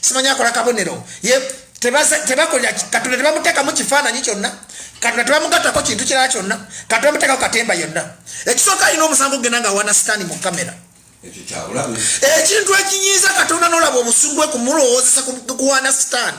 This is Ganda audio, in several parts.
simanyi akola kabonero tebakolera katonda tebamuteekamu kifaananyi kyonna katonda tebamugattako kintu kirala kyonna katonda muteekako katemba yonna ekisooka alina omusango genda nga awana sitaani mu kamera ekintu ekinyiiza katonda nolaba obusungu bwe kumulowoozesa kuwana sitaani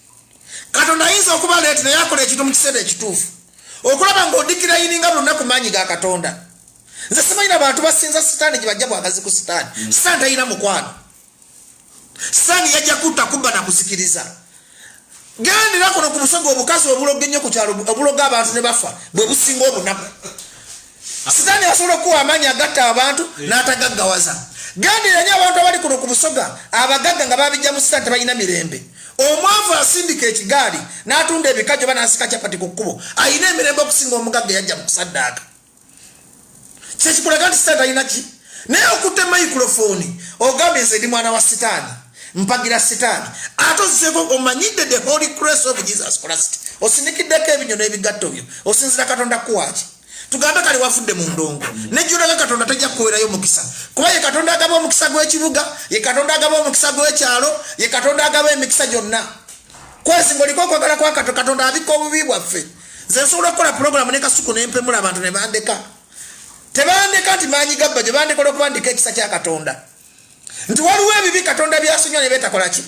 katonda ayinza okuba leeti naye akola ekintu mu kiseera ekituufu okulaba ng'odikira yininga buli lunaku maanyi ga katonda nze simanyina bantu basinza sitaani gye bajja bwagazi ku sitaani hmm. sitaani talina mukwano sitaani yajja kutta kubba na kuzikiriza gendera kuno ku busoga obukazi obuloga ennyo ku kyalo obuloga abantu ne bafa bwe businga obunaku Sitaani asobola okuwa amaanyi agatta abantu eh. n'atagaggawaza. Gendera nnyo abantu abali kuno ku Busoga, abagagga nga babijja mu sitaani tebalina mirembe. Omwavu asindika ekigaali n'atunda ebikajjo oba n'asika capati ku kkubo, alina emirembe okusinga omugagga eyajja mu kusaddaaka. Kye kikulaga nti sitaani talina ki? Naye okutte mayikulofoni ogambye nze ndi mwana wa sitaani, mpagira sitaani, ate ozzeeko omanyidde the holy grace of Jesus Christ, osinikiddeko ebinyo n'ebigatto byo, osinzira Katonda kuwaaki? tugambe kale wafudde mu ndongo nejjulaga katonda tajja kukuwerayo omukisa kuba ye katonda agaba omukisa gw'ekibuga ye katonda agaba omukisa gw'ekyalo ye katonda agaba emikisa gyonna kwezi ngaoliko okwagala kwa kato katonda abikka obubi bwaffe nze nsobola okukola pulogulaamu ne kasuku ne mpemula abantu ne bandeka tebandeka nti maanyi gabba gye bandekola okubandika ekisa kya katonda nti waliwo ebibi katonda byasonyiwa ne betakola ki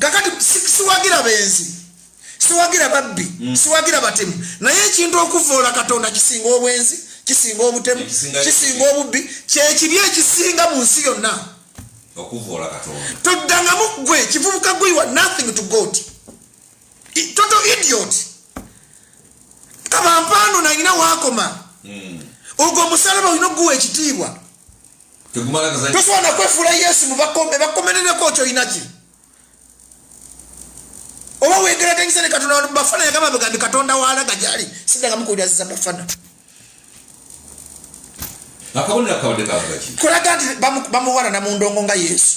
kakati siwagira benzi siwagira babbi mm. siwagira batemu naye ekintu okuvoola katonda kisinga obwenzi kisinga obutemu kisinga obubbi kyekibi ekisinga mu nsi yonna toddangamu gwe kivubuka gwe wa nothing to god toto idiot kabampaano nalina wakoma mm. ogwo omusalaba olina okuguwa ekitiibwa tosobola nakwefuula yesu mubakomerereko kyoyinaki oba wegeraganyisa ne katonda wanu bafana yagamba bega ndi katonda walaga gyali sidangamu kuwuliraziza bafana kulaga nti bamuwanana mu ndongo nga yesu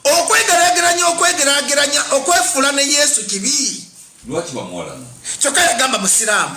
okwegerageranya okwegerageranya okwefuula ne yesu kibi kyokka yagamba musiraamu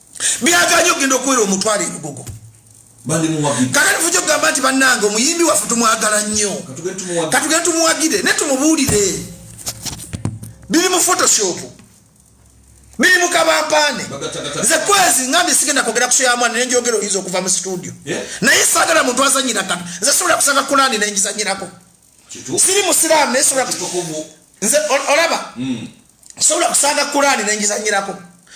byaganye okugenda okuwera omutwalo ebigogo kakati fuja okugamba nti bannange omuyimbi waffe tumwagala nnyo katugende tumuwagire naye tumubuulire biri mu photoshop biri mu kabampaane nze kwezi ngambye sigenda kwogera kuso ya mwana nenjogera oyinza okuva mu situdio naye saagala muntu azanyira kata nze sobola kusanga kulaani nengizanyirako siri musiraamu naye sobola kitukuvu nze olaba mm. sobola kusanga kuraani nenjizanyirako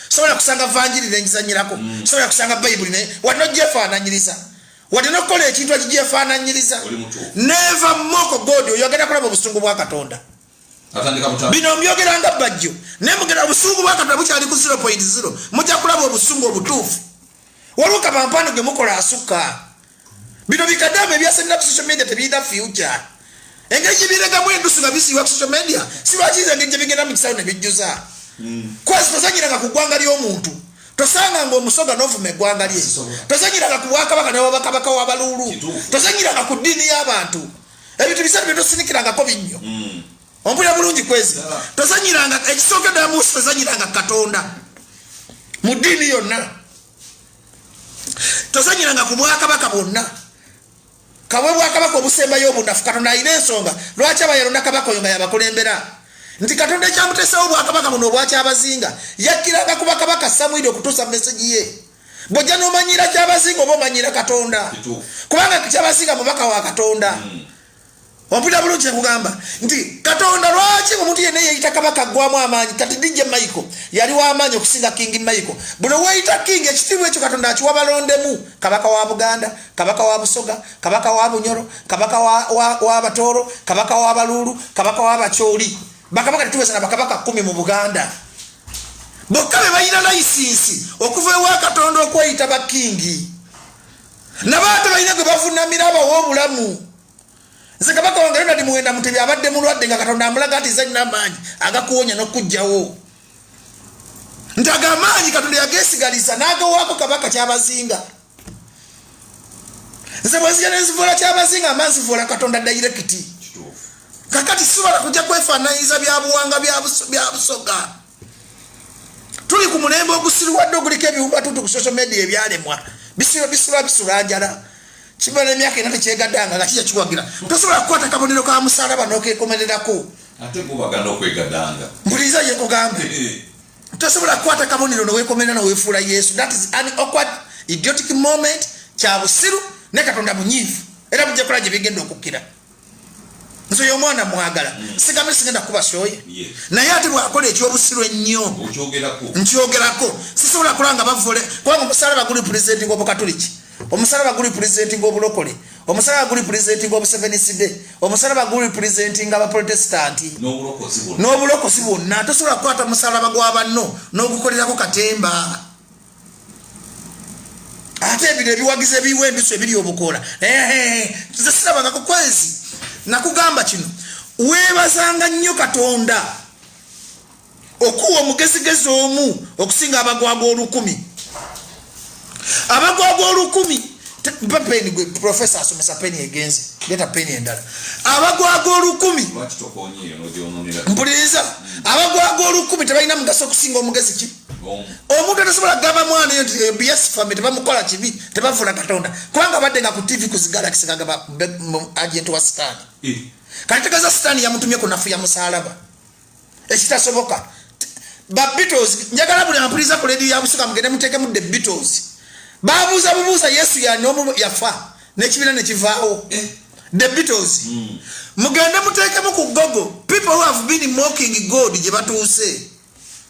sobola kusanga vanjiri nenjizanyirako mm. sobola kusanga bayibuli naye wadde ogyefaananyiriza wadde nokukola ekintu ekigyefaananyiriza neva moko god oyo agenda kulaba obusungu bwa katonda bino mbyogeranga bajjo naye mugenda obusungu bwa katonda bukyali ku 0.0 mujja kulaba obusungu obutuufu waliwo kabampaano gemukola asukka bino bikadamu ebyasenera ku social media tebirina future engeri gyebiregamu endusu nga bisiibwa ku social media sibakiiza engeri gyebigenda mu kisawo nebijjuza hmm. kwezi tozanyiranga ku ggwanga ly'omuntu tosanga nga omusoga novuma eggwanga lye tozanyiranga ku bwakabaka newabakabaka wabaluulu tozanyiranga ku ddiini y'abantu ebintu bisatu byetosinikirangako binnyo hmm. ompulira bulungi kwezi tozanyiranga ekisooka ddala munsi tozanyiranga katonda mu ddiini yonna tozanyiranga ku bwakabaka bwonna kabwe bwakabaka obusembayo obunafu katonda alina ensonga lwaki aba yalonda kabaka oyo nga yabakulembera nti katonda ekyamuteesawo obwakabaka buno obwakyabazinga yakkiranga ku bakabaka samwiri okutuusa mu mesegi ye bwojja nomanyira kyabazinga oba omanyira katonda kubanga kyabazinga mubaka wa katonda mm. Wampulira bulungi nkugamba nti Katonda lwaki omuntu yenna yeyita kabaka aggwamu amaanyi kati DJ Michael yali w'amaanyi okusinga King Michael. Buno weeyita King ekitiibwa ekyo Katonda akiwa balondemu kabaka wa Buganda, kabaka wa Busoga, kabaka wa Bunyoro, kabaka wa, wa, wa Batooro, kabaka wa Baluulu, kabaka wa Bacooli. Bakabaka tetuweza na bakabaka kumi mu Buganda. Bokka be balina layisinsi okuva ewa Katonda okweyita bakingi. nabo ate balina gwe bavunamira abawa obulamu nze kabaka wange ronald muwenda mutebi abadde mulwadde nga katonda amulaga nti zalina amaanyi agakuwonya n'okukugjawo nti ago amaanyi katonda yagesigaliza n'agawaako kabaka kyabazinga nze bwenzija nenzivuula kyabazinga ama nzivuula katonda dayirekiti kakati sisobola kujja kwefaananyiza byabuwanga byabusoga tuli ku mulembe ogusiriwadde oguliko ebiwumbatutu ku social media ebyalemwa bisiba bisiba bisula njala kimala emyaka ena tekyegadanga nga kija kiwagira tosobola kukwata kabonero ka musalaba nokekomererako mbuliza yekugamba tosobola kukwata kabonero nowekomerera nowefuula yesu that is an awkward idiotic moment kyabusiru ne katonda munyiivu era mujja kola gye bigenda okukkira nze yomwana mwagala mm. sigambe sigenda kuba soye naye ate bwakola ekyobusiru ennyo nkyogerako sisobola kulanga bavule kubanga omusalaba guli pulezidenti ngobukatuliki omusalaba guli pulezidenti ngobulokole omusalaba guli pulezidenti ngobuseveniside omusalaba guli pulezidenti nga baprotestanti n'obulokozi bwonna tosobola kukwata musalaba gwa banno n'ogukolerako katemba ate ebino ebiwagiza ebiwa embiso ebiri obukoola nze sirabanga kukwezi nakugamba kino webazanga nnyo katonda okuwa omugezigezi omu okusinga abagwagwa olukumi abagwagwa olukumi mpa peni gwe profesa asomesa peni egenze leta peni endala abagwaga olukumi mpuliriza abagwaga olukumi tebalina mugaso okusinga omugezi ki omuntu atasobola kugamba mwana eyo nti ebyasifame tebamukola kibi tebavula katonda kubanga badde nga ku tv kuzigalakisi kagamba agent wa sitaani eh. kati tegeeza sitaani yamutumye ku nafu ya musalaba ekitasoboka ba beatles njagala buli ampuliriza ku lediyo yabusuka mugende muteekemu the beatles babuuza bubuuza yesu yanomu yafa nekibiina nekivaawo eh. the beatles hmm. mugende muteekemu ku gogo people who have been mocking god gye batuuse